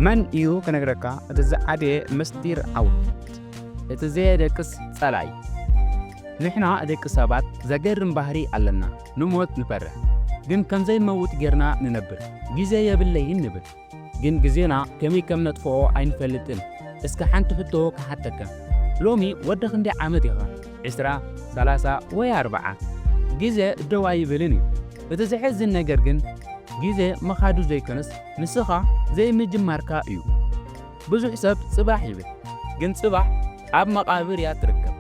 መን እዩ ክነግረካ እቲ ዝዓበየ ምስጢር ዓወት? እቲ ዘየደቅስ ጸላኢ። ንሕና ደቂ ሰባት ዘገርም ባህሪ ኣለና፣ ንሞት ንፈርሕ ግን ከም ዘይንመውት ጌርና ንነብር። ግዜ የብለይን ንብል ግን ግዜና ከመይ ከም ነጥፍኦ ኣይንፈልጥን። እስከ ሓንቲ ሕቶ ክሓተካ ሎሚ ወዲ ክንደይ ዓመት ኢኻ? ዕስራ፣ ሰላሳ ወይ ኣርብዓ? ግዜ ደው ኣይብልን እዩ። እቲ ዘሕዝን ነገር ግን ግዜ ምኻዱ ዘይኮነስ፣ ንስኻ ዘይምጅማርካ እዩ ብዙሕ ሰብ ጽባሕ ይብል ግን ጽባሕ ኣብ መቓብር እያ ትርከብ።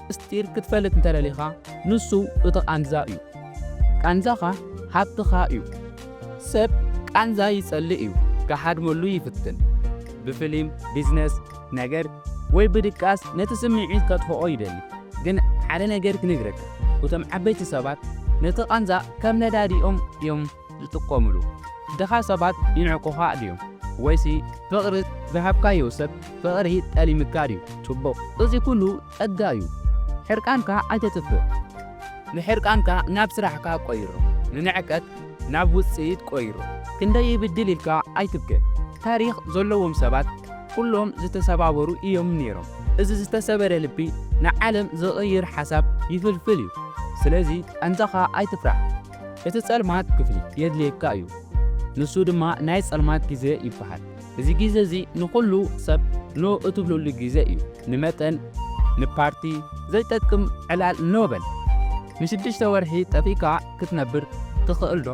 ምስጢር ክትፈልጥ እንተደሊኻ ንሱ እቲ ቃንዛ እዩ። ቃንዛኻ ሃብትኻ እዩ። ሰብ ቃንዛ ይጸልእ እዩ ክሃድመሉ ይፍትን። ብፍሊም፣ ቢዝነስ፣ ነገር ወይ ብድቃስ ነቲ ስምዒት ከጥፍኦ ይደሊ። ግን ሓደ ነገር ክነግረካ እቶም ዓበይቲ ሰባት ነቲ ቃንዛ ከም ነዳዲ እዮም እዮም ዝጥቆምሉ? ድኻ ሰባት ይንዕቁኻ ድዮም? ወይሲ ፍቕሪ ዝሃብካዮ ሰብ ፍቕሪ ጠሊምካ ድዩ? ጽቡቕ፣ እዚ ኩሉ ጸጋ እዩ። ሕርቃንካ ኣይተጥፍእ። ንሕርቃንካ ናብ ስራሕካ ቆይሮ። ንንዕቀት ናብ ውጽኢት ቆይሮ። ክንደይ ይብድል ኢልካ ኣይትብከ። ታሪኽ ዘለዎም ሰባት ኩሎም ዝተሰባበሩ እዮም ነይሮም። እዚ ዝተሰበረ ልቢ ንዓለም ዝቕይር ሓሳብ ይፍልፍል እዩ። ስለዚ ቃንዛኻ ኣይትፍራሕ። እቲ ጸልማት ክፍሊ የድልየካ እዩ። ንሱ ድማ ናይ ጸልማት ግዜ ይበሃል። እዚ ግዜ እዚ ንኹሉ ሰብ ኖ እትብለሉ ግዜ እዩ። ንመጠን፣ ንፓርቲ ዘይጠቅም ዕላል ኖ በል። ንሽዱሽተ ወርሒ ጠፊእካ ክትነብር ትኽእል ዶ?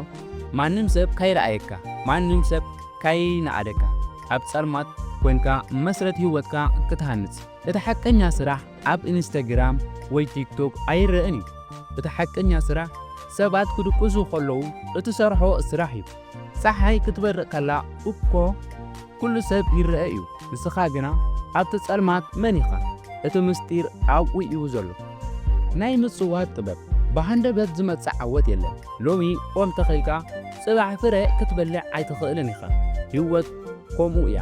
ማንም ሰብ ከይረኣየካ፣ ማንም ሰብ ከይነኣደካ ኣብ ጸልማት ኮንካ መስረት ህይወትካ ክትሃንጽ። እቲ ሓቀኛ ስራሕ ኣብ ኢንስተግራም ወይ ቲክቶክ ኣይረእን እዩ እቲ ሓቀኛ ስራሕ ሰባት ክድቅሱ ከለዉ እትሰርሖ ስራሕ እዩ ጸሓይ ክትበርቅ ከላ እኮ ኩሉ ሰብ ይረአ እዩ ንስኻ ግና ኣብቲ ጸልማት መን ኢኻ እቲ ምስጢር ኣብኡ እዩ ዘሎ ናይ ምጽዋት ጥበብ ብሃንደበት ዝመጽእ ዓወት የለን ሎሚ ኦም ተኺልካ ጽባሕ ፍረ ክትበልዕ ኣይትኽእልን ኢኻ ህይወት ከምኡ እያ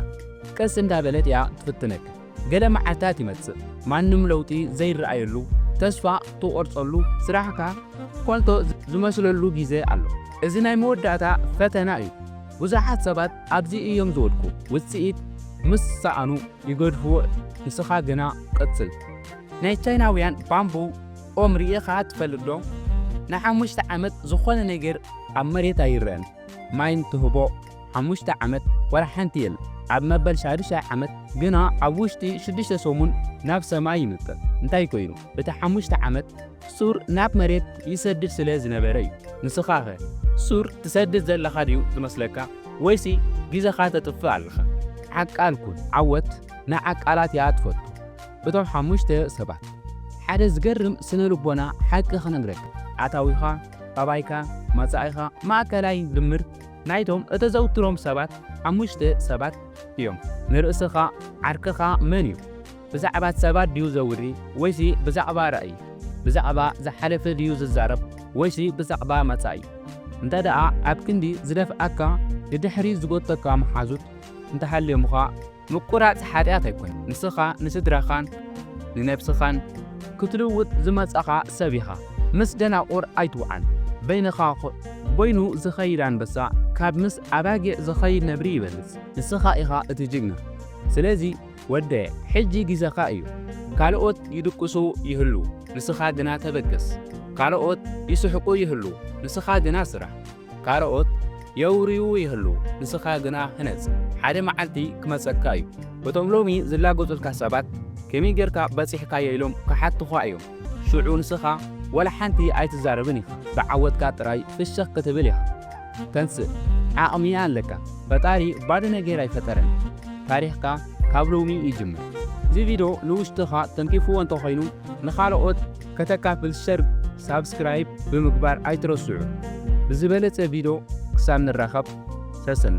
ቀስ እንዳበለት እያ ትፍትነካ ገለ መዓልታት ይመጽእ ማንም ለውጢ ዘይረኣየሉ ተስፋ ትቖርጸሉ ስራሕካ ኮንቶ ዝመስለሉ ግዜ ኣሎ። እዚ ናይ መወዳእታ ፈተና እዩ። ብዙሓት ሰባት ኣብዚ እዮም ዝወድቁ ውጽኢት ምስ ሰኣኑ ይገድፍዎ ንስኻ ግና ቀጽል። ናይ ቻይናውያን ባምቡ ኦም ርኢኻ ትፈልጥ ዶ? ንሓሙሽተ ዓመት ዝኾነ ነገር ኣብ መሬት ኣይረኣን። ማይን ትህቦ ሓሙሽተ ዓመት ዋላ ሓንቲ የለን። ኣብ መበል ሻዱሻይ ዓመት ግና ኣብ ውሽጢ ሽዱሽተ ሰሙን ናብ ሰማይ ይምጥር። እንታይ ኮይኑ? እቲ ሓሙሽተ ዓመት ሱር ናብ መሬት ይሰድድ ስለ ዝነበረ እዩ። ንስኻኸ ሱር ትሰድድ ዘለኻ ድዩ ዝመስለካ ወይሲ ግዜኻ ተጥፍእ ኣለኻ? ዓቃል ኩን። ዓወት ንዓቃላት እያ ትፈቱ። እቶም ሓሙሽተ ሰባት። ሓደ ዝገርም ስነ ልቦና ሓቂ ክነግረካ። ኣታዊኻ ጠባይካ፣ መጻኢኻ ማእከላይ ድምር ናይቶም እተዘውትሮም ሰባት ሓሙሽተ ሰባት እዮም። ንርእስኻ፣ ዓርክኻ መን እዩ? ብዛዕባ ሰባት ድዩ ዘውሪ ወይሲ ብዛዕባ ራእይ? ብዛዕባ ዝሓለፈ ድዩ ዝዛረብ ወይሲ ብዛዕባ መጻኢ? እንተደኣ ኣብ ክንዲ ዝደፍኣካ ንድሕሪት ዝጎተካ መሓዙት እንተሃልዮምኻ፣ ምቁራጽ ሓጢኣት ኣይኮነን። ንስኻ ንስድራኻን ንነብስኻን ክትልውጥ ዝመጻኻ ሰብ ኢኻ። ምስ ደናቁር ኣይትውዓል። በይንኻ በይኑ ዝኸይድ ኣንበሳ ካብ ምስ ኣባጊዕ ዝኸይድ ነብሪ ይበልጽ። ንስኻ ኢኻ እቲ ጅግና ስለዚ ወደየ ሕጂ ግዜኻ እዩ። ካልኦት ይድቅሱ ይህልዉ ንስኻ ግና ተበገስ። ካልኦት ይስሕቁ ይህልዉ ንስኻ ግና ስራሕ። ካልኦት የውርዩ ይህልዉ፣ ንስኻ ግና ህነጽ፣ ሓደ መዓልቲ ክመጸካ እዩ። እቶም ሎሚ ዝላገጹልካ ሰባት ከመይ ጌርካ በጺሕካዮ ኢሎም ክሓቱኻ እዮም፣ ሽዑ ንስኻ ዋላ ሓንቲ ኣይትዛረብን ኢኻ፣ ብዓወትካ ጥራይ ፍሽኽ ክትብል ኢኻ። ተንስእ፣ ዓቕሚ ኣለካ፣ ፈጣሪ ባዶ ነገር ኣይፈጠረን፣ ታሪኽካ ካብ ሎሚ ይጅምር። እዚ ቪድዮ ንውሽጥኻ ተንኪፍዎ እንተኾይኑ ንኻልኦት ከተካፍል ሸር ሳብስክራይብ ብምግባር ኣይትረስዑ ብዝበለጸ ቪዶ ክሳብ ንራኸብ ሰሰና።